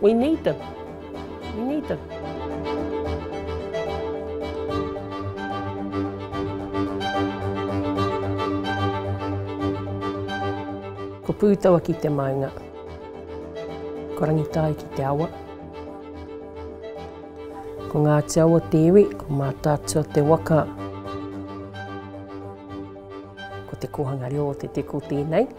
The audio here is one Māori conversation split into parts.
We need them. We need them. Ko Pūtawa ki te maunga. Ko Rangitāi ki te awa. Ko Ngāti Awa o te iwi, ko Mātaatua o te waka. Ko te kōhanga reo o te teko tēnei.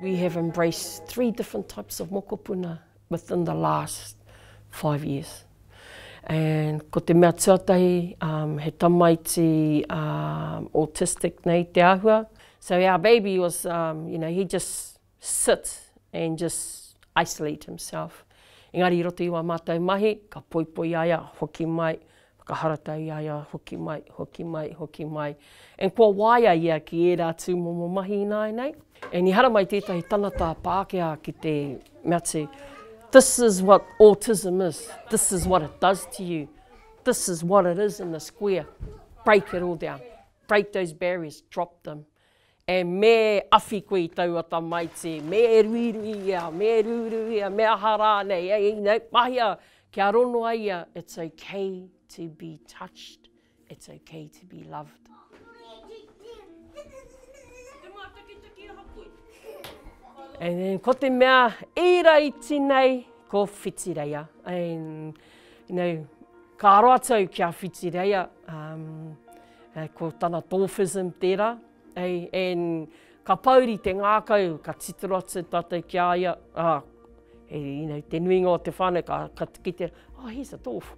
We have embraced three different types of mokopuna within the last five years. And ko te mea tuatahi, um, he tamaiti um, autistic nei te ahua. So our baby was, um, you know, he just sit and just isolate himself. Engari i roto i wā mātou mahi, ka poipoi a ia, hoki mai, whakaharatau i a ia, hoki mai, hoki mai, hoki mai. And kua waia ia ki ērā tūmomo mahi ināianei. And i haramai tētahi tangata Pākehā ki te mea atu, this is what autism is, this is what it does to you, this is what it is in the square, break it all down, break those barriers, drop them. E Me awhi koe i taua tamaiti, me e ruirui ia, me e rūrū ia, me aha rānei, e Ina, mahia kia rono ai ia, it's ok to be touched, it's ok to be loved. And then ko te mea i raiti nei, ko Whitireia. And, you know, ka roa tau ki a Whitireia. Um, Ko tana dwarfism tērā, and ka pouri te ngākau, ka titiro atu tātou ki a ia, te nuinga o te whānau ka tuki tērā, oh he's a dwarf.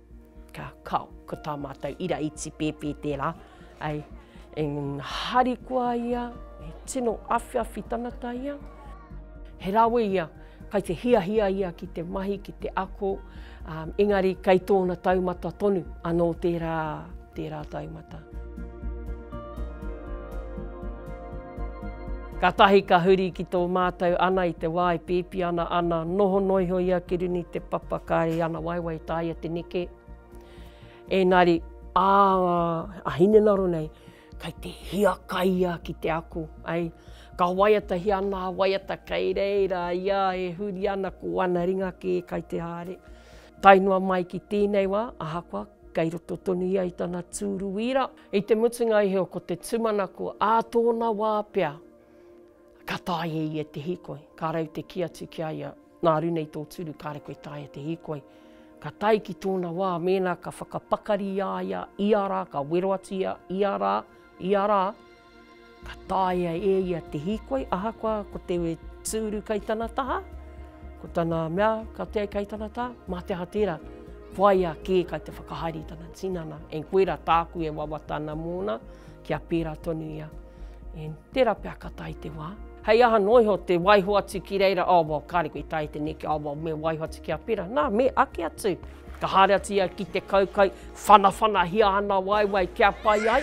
Ka, kao, ko tā mātou ira i tīpēpē tērā, and harikoa ia, he tino awhiawhi tangata ia, he rawe ia, Kai te hiahia ia ki te mahi, ki te ako, engari kei tōna taumata tonu anō tērā, tērā taumata. Katahi ka huri ki tō mātou ana i te wā e pēpi ana, ana noho noa iho ia ki runga i te papa, kāre i ana waewae i tāia te neke. Engari, ā, a Hinengaro nei, Kai te hiakaia ki te ako, ai. Ka waiatahia ana a waiata kei reira ia e huri ana ko ana ringa kē kai te haere. Tae noa mai ki tēnei wā, ahakoa kei roto tonu ia i tana tūru wīra, i te mutunga i heo ko te tūmanako ā tōna wā pea ka taea e ia te hīkoi, ka rau te kī atu ki a ia, Nā ru nei tō turu kāre koe taea te hīkoi. Ka tae ki tōna wā mēnā ka whakapakari i a ia ia rā, ka wero atu ia ia rā, ia rā, ka taea e ia te hīkoi ahakoa ko te tūru kai tana taha, ko tana mea ka tae kai tana taha, mā te aha tērā, whaia kē kai te whakahaere i tana tinana, and koirā tāku e wawata ana mōna, Kia pērā tonu ia. In, tērā pea ka tae te wā. Hei aha noa iho te waiho atu ki reira, oh well, kāre koe i tae te neke, oh well, me waiho atu ki a pērā. Nā, me ake atu. Ka haere atu ia ki te kaukai, whanawhanahia ana waewae kia pai ai.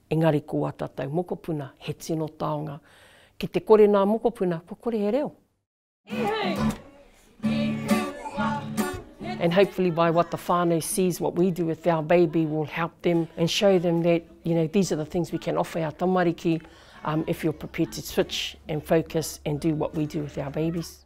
Engari ko ā tātou mokopuna he tino taonga. Ki te kore nā mokopuna, kua kore he reo. And hopefully by what the whānau sees what we do with our baby will help them and show them that you know these are the things we can offer our tamariki um, if you're prepared to switch and focus and do what we do with our babies.